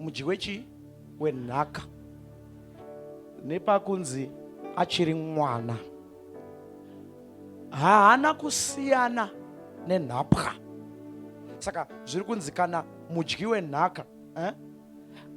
mudyi wechi wenhaka nepakunzi achiri mwana haana kusiyana nenhapwa saka zviri kunzi kana mudyi wenhaka eh?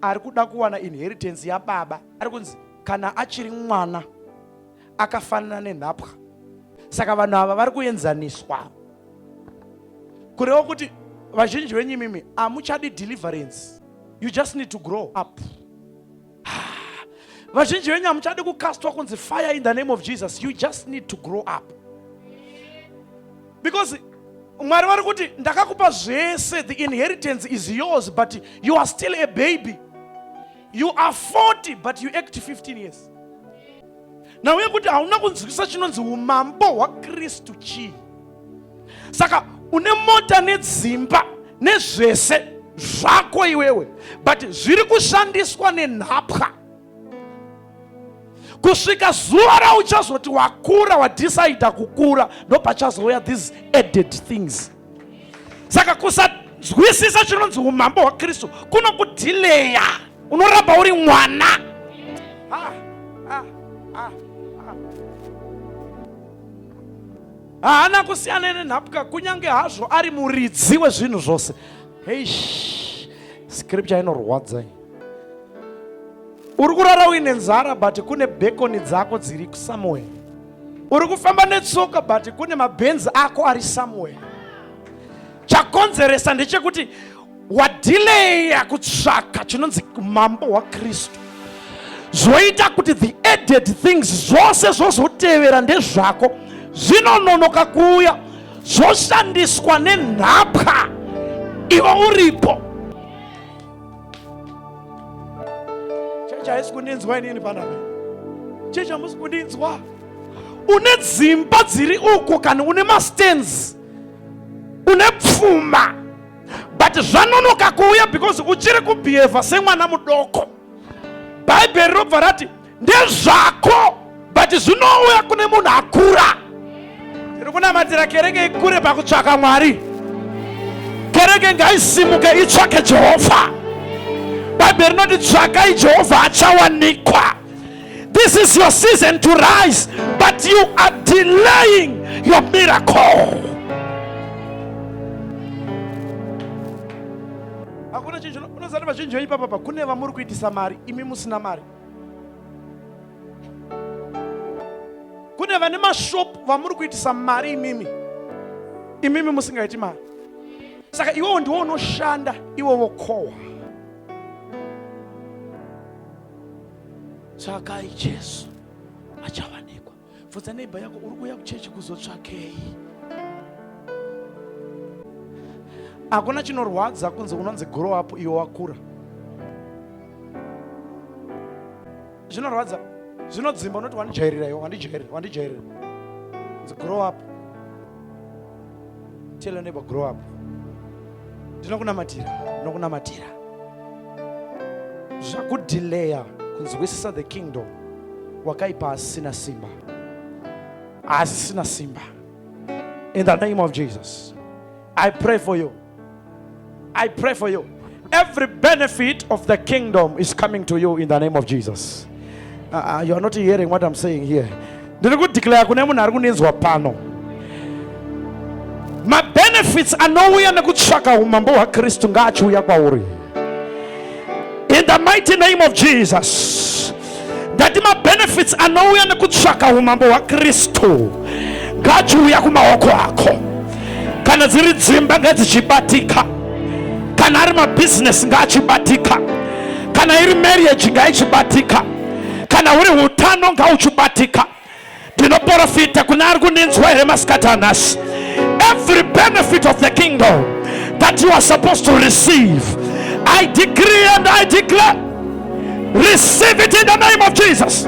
ari kuda kuwana inheritance yababa ari kunzi kana achiri mwana akafanana nenhapwa saka vanhu ava vari kuenzaniswa kureva kuti vazhinji venyu imimi hamuchadi deliverance you just need to grow up vazhinji venyu hamuchadi kukastwa kunzi fire in the name of jesus you just need to grow up because mwari vari kuti ndakakupa zvese the inheritance is yours but you are still a baby you are 40 but you act 15 years nhau yekuti hauna kunzwisisa chinonzi umambo hwakristu chii saka une mota nedzimba nezvese zvako iwewe but zviri kushandiswa nenhapwa kusvika zuva rauchazoti wakura wadecider kukura ndopachazouya these added things saka kusanzwisisa chinonzi umambo hwakristu kunokudhileya unoramba uri mwana ah, ah, ah, haana kusiyana nenhapwa kunyange hazvo ari muridzi wezvinhu zvose heish scripture inorwadza uri kurara uine nzara but kune bekoni dzako dziri somewhere uri kufamba netsoka but kune mabhenzi ako ari somewhere chakonzeresa ndechekuti wadhileya kutsvaka chinonzi umambo hwakristu zvoita kuti the added things zvose zvozotevera ndezvako zvinononoka kuuya zvoshandiswa nenhapwa ivo uripo Chechi haisi kundinzwa inini panapa. Chechi hamusi kundinzwa. Une dzimba dziri uko kana une mastands. Une pfuma. But zvanonoka kuuya because uchiri kubehave semwana mudoko. Bhaibheri robva rati ndezvako but zvinouya kune munhu akura tiri kunamatira kereke ikure pakutsvaka mwari kereke ngaisimuke itsvake jehovha bhaibheri rinoti tsvakai jehovha achawanikwa this is your season to rise but you are delaying your miracle hakuna chinhu unozati vazhinji veipapapa kune vamuri kuitisa mari imi musina mari kune vane mashopu vamuri kuitisa mari imimi imimi musingaiti mari saka iwewo ndiwo unoshanda iwe vokohwa tsvakai jesu achawanikwa bvunza neighbor yako uri kuuya kuchechi kuzotsvakei hakuna chinorwadza kunzi unonzi grow up iwe wakura zvinorwadza zvinodzimba unoti wandijairira iwe wandijairira wandijairira grow up Tell your neighbor, grow up. Ndinokunamatira, ndinokunamatira. Zvakudileya kunzwisisa the kingdom wakaipa asina simba. Asina simba. In the name of Jesus. I pray for you. I pray for you. Every benefit of the kingdom is coming to you in the name of Jesus. Uh, uh you are not hearing what I'm saying here. ndiri kudeclare kune munhu ari kundinzwa pano mabenefits anouya nekutsvaka umambo hwakristu ngaachiuya kwauri in the mighty name of jesus ndati mabenefits anouya nekutsvaka umambo hwakristu ngachiuya kumaoko ako kana dziri dzimba ngadzichibatika kana ari mabhizinesi ngaachibatika kana iri marriage ngaichibatika kana uri utano ngauchibatika ndinoporofita kuna ari kundinzwa here masikati anhasi every benefit of the kingdom that you are supposed to receive i decree and i declare receive it in the name of jesus